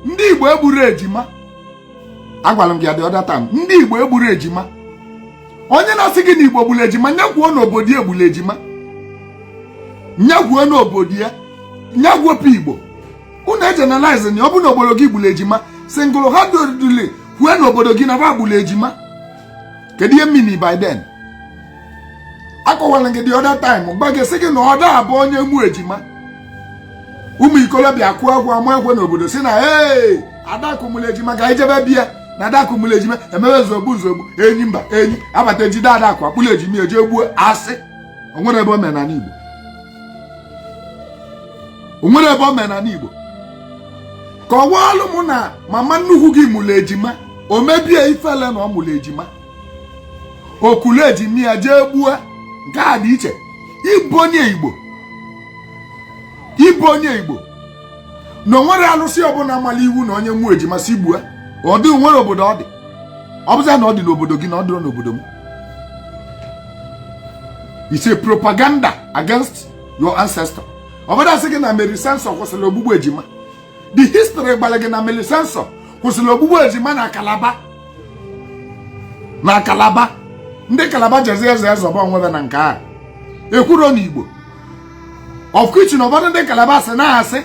ndị igbo egburu ejima agwara m gị the other time ndị igbo egburu ejima onye na-asị gị na igbo gburu ejima nya kwuo n'obodo ya egburu ejima nya kwuo n'obodo ya nya gụpụ igbo unu egeneralize na ọ bụ n'obodo gị gburu ejima single handedly kwue n'obodo gị na ba gburu ejima kedu ihe m mean by then akọwara gị the other time gwa gị sị gị na ọ da-abụ onye mụ ejima ụmụ ikolobịa kụọ agwọ ama ekwe n'obodo sị na ee adakụ mụlụ ejima ka anyị jebe bịa na adakụ mụlụ ejima emebe nzogbu nzogbu enyi mba enyi abata ejide adakụ akpụlụ ejima eje gbuo asị o nwere ebe omenala igbo o nwere ebe omenala igbo kọwaalụ mụ na mama nnukwu gị mụlụ ejima o mebe ya ifele na ọ mụlụ ejima o kulu ejima ya jee gbuo nke a dị iche ibonye igbo ibonye igbo na o nwere alụsị ọbụla mara iwu na onye mụọ ejima sị gbue ọ dịrọ o nwere obodo ọ dị ọ bụzia na ọ dị n'obodo gị na ọ dịrọ n'obodo m it's a propaganda against your ancestor ụfọdụ asị gị na Mary Slessor kwụsịrị ogbugbu ejima the history gwara gị na Mary Slessor kwụsịrị ogbugbu ejima na kalaba na kalaba ndị kalaba jezi azọ azọba onwe ba na nke a ekwuro na igbo of which na ụfọdụ ndị kalaba sị na asị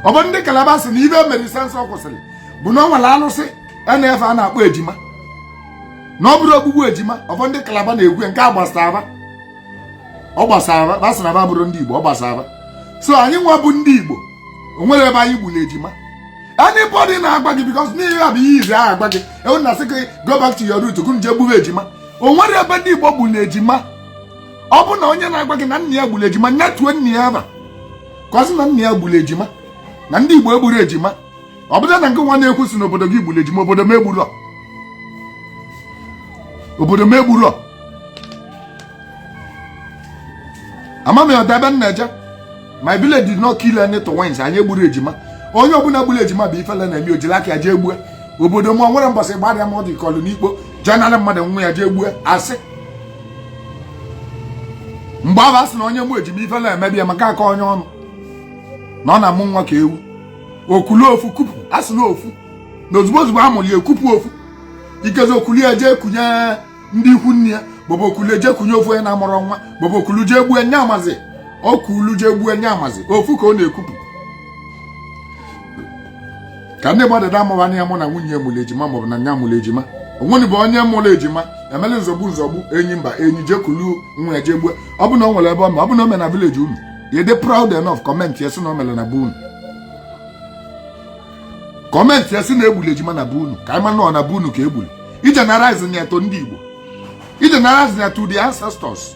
ụfọdụ ndị kalaba sị na ife Mary Slessor kwụsịrị bụ na ọ nwere alụsị a na-efe a na-akpọ ejima na ọ bụrụ ogbugbu ejima ụfọdụ ndị kalaba na-ekwu nke a gbasara ọ gbasara ba sị na ba abụrụ ndị Igbo ọ gbasara ba so anyị nwa bụ ndị Igbo o nwere ebe anyị gburu ejima anybody na-agwa gị because n'ihe a bụ ihe izi ahụ agwa gị okwu na-asị gị go back to your root ka unu jee gbube ejima o nwere ebe ndị Igbo gburu ejima ọ bụ na onye na-agwa gị na nna ya gburu ejima nya tuo nna ya afa ka ọ sị na nna ya gburu ejima na ndị Igbo egburu ejima ọ bụrụ na ngị nwa na-ekwu sị n'obodo gị gburu ejima obodo m egburu obodo m egburu ama m ọda ebe m na-eje my village did not kill any twins anyị egburu ejima onye ọbụla gburu ejima bụ ifele na-eme o jiri aka ya jee gbue obodo m nwere mbọsị gbarịa m ọ dị kọlụ n'ikpo jee nara mmadụ nwa ya jee gbue asị mgbe ahụ a sị na onye mụ ejima ifele emebe ya maka akọnye ya ọnụ na ọ na-amụ nwa ka ewu o kulu ofu kupu asị na ofu na ozugbo ozugbo a mụrụ ya ekupu ofu ikezi o kulu ya jee kunye ndị ikwu nne ya maọbụ o kulu jee kunye ofu onye na-amụrụ nwa maọbụ o kulu jee gbue nya amazị o kulu jee gbue nya amazị ofu ka ọ na-ekupụ ka ndị mmadụ da amụwa ya amụ na nwunye ya mụrụ ejima maọbụ na nya mụrụ ejima o nwere ebe onye mụrụ ejima emela nzogbu nzogbu enyi mba enyi jee kulu nwa ya jee gbue ọ bụ na o nwere ebe ọ ma ọ bụ na o mere na village unu you dey proud enough comment ya sị na o mere na be unu comment ya sị na egburu ejima na be unu ka anyị ma na ọ na be unu ka egburu ị generalize na ya to ndị Igbo ị generalize na to the ancestors